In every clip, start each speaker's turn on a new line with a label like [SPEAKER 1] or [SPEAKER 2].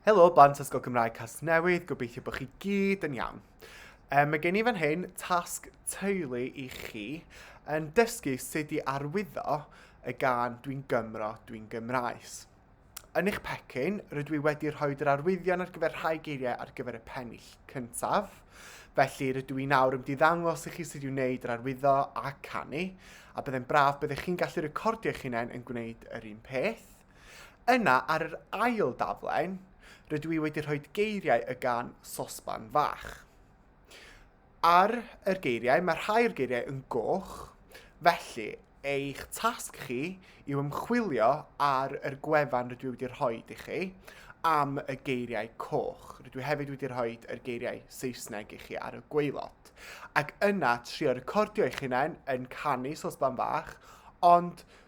[SPEAKER 1] Helo, blant Ysgol Gymraeg Casnewydd, gobeithio bod chi gyd yn iawn. E, mae gen i fan hyn tasg teulu i chi yn dysgu sut i arwyddo y gan Dwi'n Gymro, Dwi'n Gymraes. Yn eich pecyn, rydw i wedi rhoi yr arwyddion ar gyfer rhai geiriau ar gyfer y pennill cyntaf. Felly, rydw i nawr yn diddangos i chi sut i'w wneud yr arwyddo a canu, a byddai'n braf byddech chi'n gallu recordio eich hunain yn gwneud yr un peth. Yna, ar yr ail daflen, rydw i wedi rhoi geiriau y gan Sosban Fach. Ar yr geiriau, mae rhai o'r geiriau yn goch, felly eich tasg chi yw ymchwilio ar yr gwefan rydw i wedi rhoi i chi am y geiriau coch. Rydw i hefyd wedi rhoi yr geiriau Saesneg i chi ar y gweilod. Ac yna, trio recordio eich hunain yn canu Sosban Fach, ond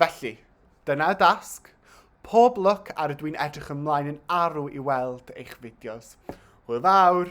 [SPEAKER 1] Felly, dyna y dasg. Pob lwc ar y dwi'n edrych ymlaen yn arw i weld eich fideos. Hwyl fawr!